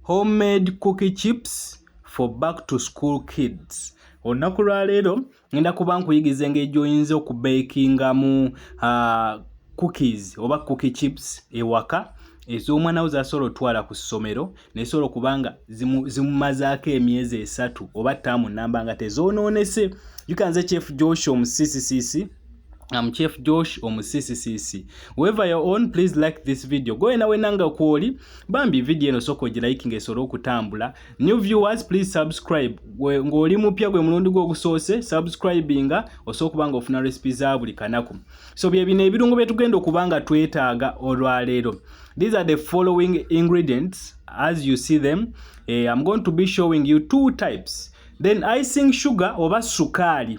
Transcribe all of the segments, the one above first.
homemade cookie chips for back to school kids olunaku lwaleero ngenda kuba nkuyigiza engeri gyoyinza okubakingamu uh, cookies oba cookie chips ewaka ez'omwana wo zasobola otwala ku ssomero nezisobola okuba nga zimumazaako emyezi esatu oba taamu namba nga tezonoonese yukanze chief joshua omusiisisiisi I'm Chief Josh omusisisisi. Whoever your own, please like this video. Go enawe nanga kwoli. Bambi video eno soko ji liking esoro kutambula. New viewers, please subscribe. We ngoli mupya gwe mulundi gwo gusose subscribinga osoko kubanga ofuna recipes za buli kanaku. So bye bine ebirungo byetugenda okubanga twetaaga olwalero. These are the following ingredients as you see them. Eh, I'm going to be showing you two types. Then icing sugar oba sukali.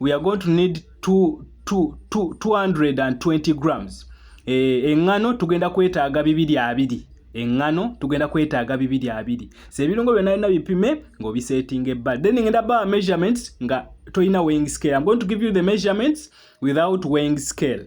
we are going to need 220 grams eh, eŋŋano tugenda kwetaaga bibiri abiri eŋŋano tugenda kwetaaga bibiri abiri so ebirungo byonna byonna bipime ng'obiseetinga ebbali then ngenda bawa measurements nga tolina weighing scale i'm going to give you the measurements without weighing scale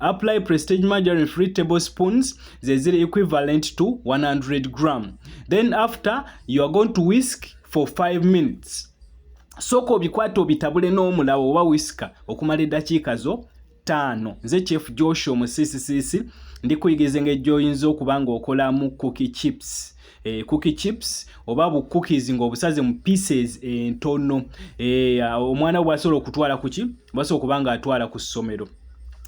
Apply prestige margarine free tablespoons zeziri equivalent to 100 gram then after you are going to whisk for 5 minutes sooka obikwata obitabule n'omulawo oba wisika okumala eddakiika zo ttaano nze chief joshua omusisisisi ndi kuyigiriza engeri gy'oyinza okuba ng'okolamu cookie chips eh, cookie chips oba bu cookies ng'obusaze mu pieces entono eh, eh, omwana we bwasobola okutwala ku ki bwasobola okuba ng'atwala ku ssomero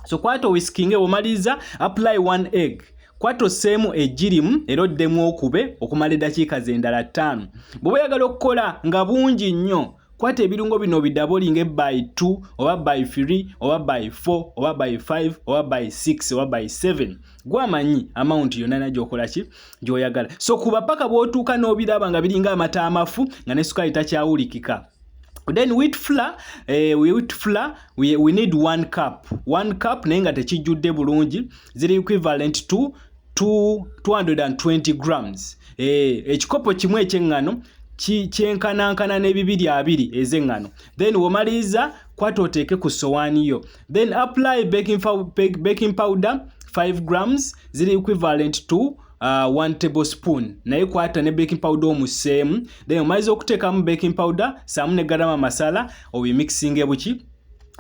so kwata owisikinge bw'omaliriza apply one egg kwata osseemu egirimu era oddemu okube okumala eddakiika z'endala ttaano bw'oba oyagala okukola nga bungi nnyo kwata ebirungo bino bidabolinge by 2 oba by 3 oba by 4 oba by 5 oba by 6 oba by 7 gwamanyi amount yonna nagyokola ki gyoyagala so kuba paka bwotuuka n'obiraba nga biringa amata amafu nga ne sukaali takyawulikika then wheat flour eh, wheat flour we, we need one cup one cup naye nga tekijjudde bulungi ziri equivalent to 220 grams eh, ekikopo eh, kimu ekyeŋŋano kyenkanankana n'ebibiri abiri ez'eŋŋano then womaliriza kwata oteeke ku sowaani yo then apply baking, baking powder 5 grams ziri equivalent to uh, one table spoon naye kwata ne baking powder omuseemu then omaliza okuteekamu baking powder saamu ne garama masala obimixinge buki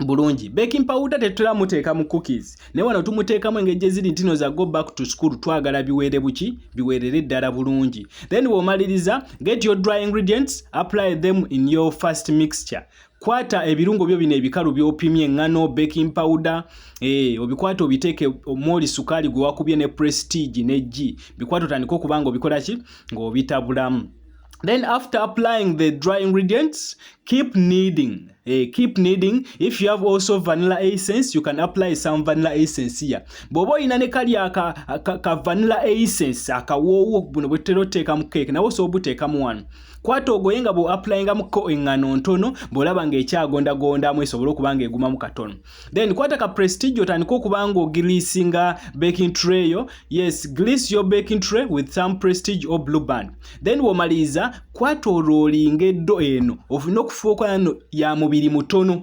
bulungi baking powder tetutera muteeka mu cookies naye wano tumuteekamu engeri gye ziri ntino za go back to school twagala biweere buki biweerere ddala bulungi then bw'omaliriza get your dry ingredients apply them in your first mixture kwata ebirungo byo bino ebikalu byopimye ngano baking powder eh obikwata obiteke omoli sukali gwe wakubye ne prestige ne G bikwato tandiko kubanga obikola ki ngo bitabulamu then after applying the dry ingredients keep kneading eh, keep kneading if you have also vanilla essence you can apply some vanilla essence here bwoba olina ne kali aka ka, ka vanilla essence akawoowo buno bwetera oteeka mu cake nawe osobola obuteekamu wano kwata ogoye nga bweapulayingamuko engano ntono bwolaba nga ekyagondagondamu esobole okuba nga egumamu katono then kwata ka prestige otandika okuba nga ogiriisinga baking tray yo yes grease your baking tray with some prestige or blue band then womaliriza kwata olwolinga eddo eno ofune okufuuka ya mubiri mutono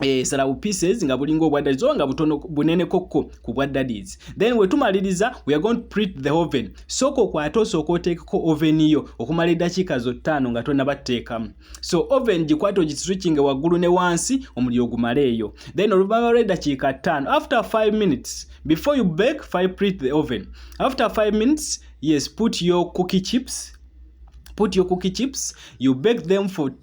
esalawo eh, pieces nga bulinga obwa daddies oba nga butono bunene kokko ku bwa daddies then wetumaliriza we are going to print the oven sooka okwate osooka oteekeko oven yo okumala eddakiika zo ttaano nga tonabatteekamu so oven gikwate ogiswitchinge waggulu ne wansi omuliro ogumale eyo then oluvanyuma lw'eddakiika ttaano after 5 minutes before you bake fi print the oven after 5 minutes yes put your cookie chips put your cookie chips you bake them for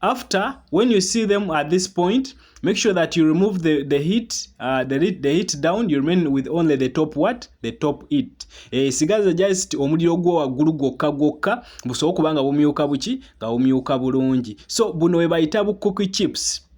after when you see them at this point make sure that you remove the, the heat uh, the, the heat down you remain with only the top what the top it e, eh, sigaza just omuliro gwo waggulu gwokka gwokka busobola okuba nga bumyuka buki nga bumyuka bulungi so buno we bayita bu cookie chips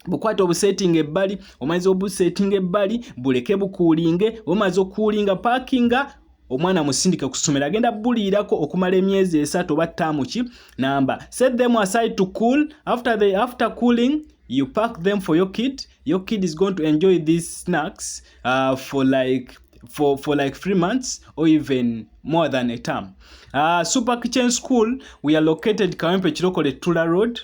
bukwata obusetinga ebbali omaze obusetinga ebbali buleke bukuulinge omaze okuulinga pakinga omwana musindike ku ssomero agenda buliirako okumala emyezi esatu oba ttaamu ki namba set them aside to cool after the after cooling you pack them for your kid your kid is going to enjoy these snacks uh, for like for, for like three months or even more than a term uh, super kitchen school we are located kawempe chilokole tula road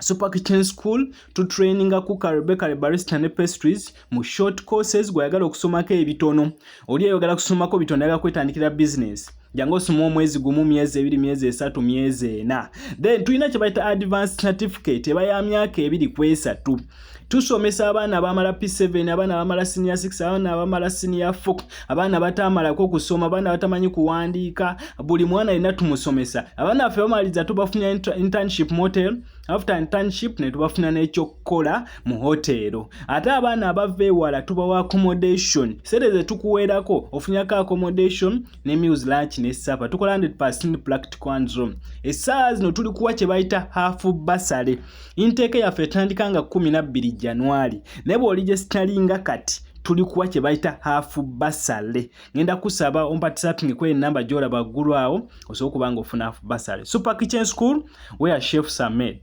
Super Kitchen School to training cooker bakery barista ne pastries mu short courses gwayagala okusomako ebitono oli ayagala kusomako bitono ayagala kwetandikira business jangu osoma omwezi gumu myezi ebiri myezi esatu myezi ena then tulina kyebayita advanced certificate eba ya myaka ebiri kwesatu tusomesa abaana abamala p7 abaana abamala senior 6 abaana abamala senior 4 abaana batamalako kusoma abaana batamanyi kuwandiika buli mwana yena tumusomesa abaana baffe bamaliriza tubafunya internship motel after internship netubafuna nekyokukola mu hotero ate abaana abava ewala tubawa accommodation sente zetukuweerako ofunyako accommodation ne meals lunch ne supper tukola 100% practical and room essaawa zino tuli kuwa kye bayita half basale inteeka yaffe etandika nga 12 januari naye bw'oli gye sitalinga kati tuli kuwa kye bayita half basale ngenda kusaba ompatisapingi kwe enamba gy'olaba ggulu awo osobola okuba nga ofuna half basale super kitchen school where chefs are made